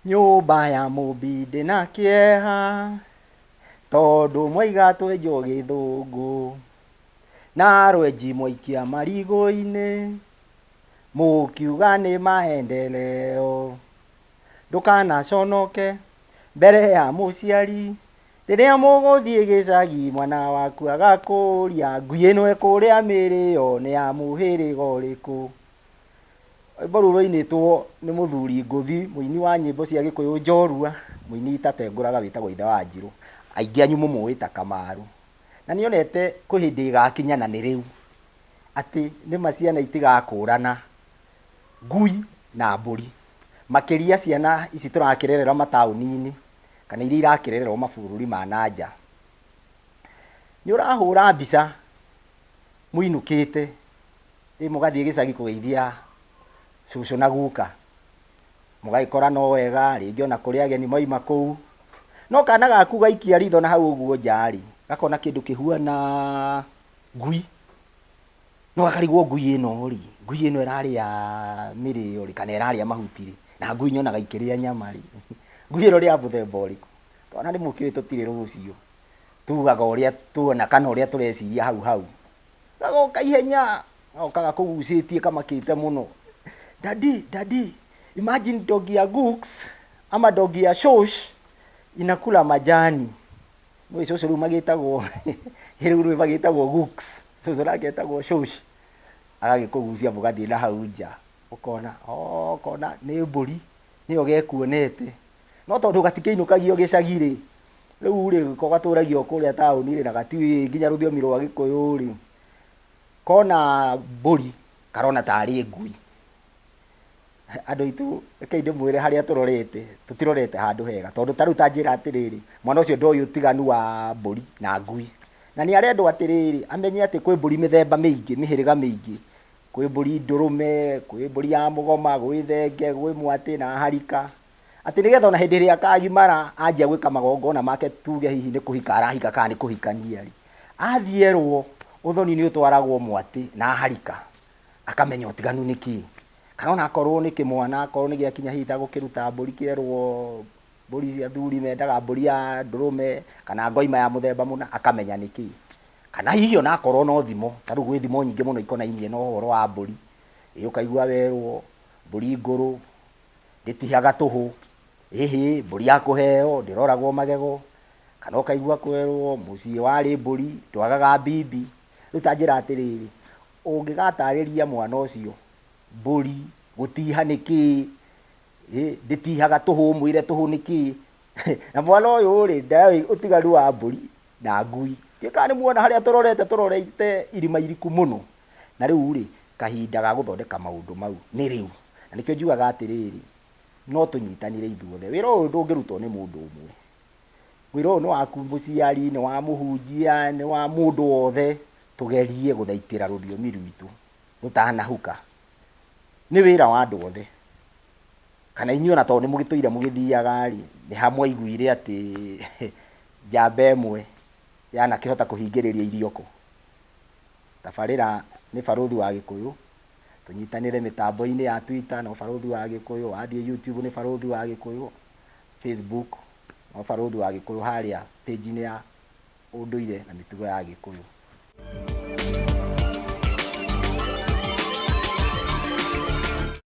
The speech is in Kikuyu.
nyũmba ya mũmbi ndĩ na kĩeha tondũ mwaiga twenjwo gĩthũngũ na rwenji mwaikia marigũ-inĩ mũkiuga nĩ maendeleo ndũkanaconoke mbere ya mũciari. Rĩrĩa mũgũthiĩ gĩcagi mwana waku agakũũria ngui ĩno ĩkũrĩa mĩrĩyo nĩ ya mũhĩrĩga ũrĩkũ. Rwĩmbo rũu rwainĩtwo nĩ mũthuri ngũthi mũini wa nyĩmbo cia gĩkũyũ njorua, mũini itatengũraga wĩtagwo ithe wa Wanjirũ, aingĩ anyu mũmũĩ ta Kamarũ. Na nĩ onete kwĩ hĩndĩ ĩgakinya na nĩ rĩu atĩ nĩ ma ciana itigakũrana ngui na mbũri, makĩria ciana ici tũrakĩrerera mataũni-inĩ kana iria irakĩrererwo mabũrũri ma na nja, nĩ ũrahũra mbica mũinũkĩte rĩu mũgathiĩ gĩcagi kũgeithia cũcũ na guka, mũgagĩkora no wega, rĩngĩ ona kũrĩ ageni mauma kũu, no kana gaku gaikia ritho na hau ũguo nja rĩ, gakona kĩndũ kĩhuana ngui. No akarigwo ngui ĩno rĩ, ngui ĩno ĩrarĩa mĩrĩo rĩ kana ĩrarĩa mahuti rĩ, na ngui nyonaga ikĩrĩa nyama rĩ, ngui ĩno nĩ ya mũthemba ũrĩkũ? Twana nĩ mũkĩũĩ tũtirĩ rũciũ, tugaga ũrĩa tuona kana ũrĩa tũreciria hau hau. Gagoka ihenya, gagoka gakũgucĩtie kamakĩte mũno, Daddy, Daddy, imagine dog ya Gux ama dog ya Shosh inakula majani. Nĩũĩ cũcũ rĩu magĩtagwo kĩrĩu rĩu magĩtagwo Gũks. Cũcũ nake etagwo Shũsh. Agagĩkũgucia mũgathiĩ na hau nja. Ũkona oo ũkona nĩ mbũri, nĩyo gekuonete. No tondũ gatikĩinũkagio gĩcagi-rĩ, rĩu-rĩ ko gatũragia o kũrĩa taũni-rĩ na gatiũĩ nginya rũthiomi rwa Gĩkũyũ-rĩ, kona mbũri karona tarĩ ngui. Andũ aitũ reke ndĩmwĩre harĩa tũrorete, tũtirorete handũ hega tondũ ta rĩu ta njĩra atĩrĩrĩ, mwana ũcio ndoĩ ũtiganu wa mbũri na ngui. Na nĩ arendwo atĩrĩrĩ, amenye atĩ kwĩ mbũri mĩthemba mĩingĩ, mĩhĩrĩga mĩingĩ. Kwĩ mbũri ndũrũme, kwĩ mbũri ya mũgoma, gwĩ thenge, gwĩ mwatĩ na harika. Atĩ nĩgetha ona hĩndĩ ĩrĩa akagimara anjia gwĩka magongona make tuge hihi nĩ kũhika arahika kana nĩ kũhikania arĩ, athiĩ erwo ũthoni nĩ ũtwaragwo mwatĩ na harika. akamenya ũtiganu nĩ kĩĩ kana ona akorwo nĩ kĩmwana akorwo nĩ gĩakinya hihi ta gũkĩruta mbũri kĩerwo mbũri cia athuri mendaga mbũri ya ndũrũme kana ngoima ya mũthemba mũna akamenya nĩ kĩĩ kana hihi ona akorwo no thimo ta rĩu gwĩ thimo nyingĩ mũno ikonainie na ũhoro wa mbũri ĩ ũkaigua werwo mbũri ngũrũ ndĩtihaga tũhũ ĩhĩ mbũri ya kũheo ndĩroragwo magego kana ũkaigua kwerwo mũciĩ warĩ mbũri ndwagaga mbibi rĩu ta njĩra atĩrĩrĩ Ũngĩgataarĩria mwana ũcio mbũri gũtiiha nĩ kĩĩ, ĩ, ndĩtiihaga tũhũ, ũmwĩre tũhũ nĩ kĩĩ. Na mwana ũyũ-rĩ, ndoĩ ũtiganu wa mbũri na ngui. Ndiũĩ kana nĩmuona harĩa tũrorete, tũrorete irima iriku mũno. Na rĩu-rĩ, kahinda ga gũthondeka maũndũ mau nĩ rĩu. Na nĩkĩo njugaga atĩrĩrĩ, no tũnyitanĩre ithuothe. Wĩra ũyũ ndũngĩrutwo nĩ mũndũ ũmwe. Wĩra ũyũ nĩ waku mũciari, nĩ wa mũhunjia, nĩ wa mũndũ wothe. Tũgerie gũthaitĩra rũthiomi rwitũ rũtanahuka. Nĩ wĩra wa andũ othe. Kana inyuĩ ona tondũ nĩ mũgĩtũire mũgĩthiaga-rĩ, nĩ ha mwaiguire atĩ njamba ĩmwe yanakĩhota kũhingĩrĩria irio kũ? Tabarĩra nĩ barũthi wa Gĩkũyũ, tũnyitanĩre mĩtambo-inĩ ya Twitter no barũthi wa Gĩkũyũ, wathiĩ YouTube nĩ barũthi wa Gĩkũyũ, Facebook no barũthi wa Gĩkũyũ harĩa page-inĩ ya... ũndũire na mĩtugo ya Gĩkũyũ.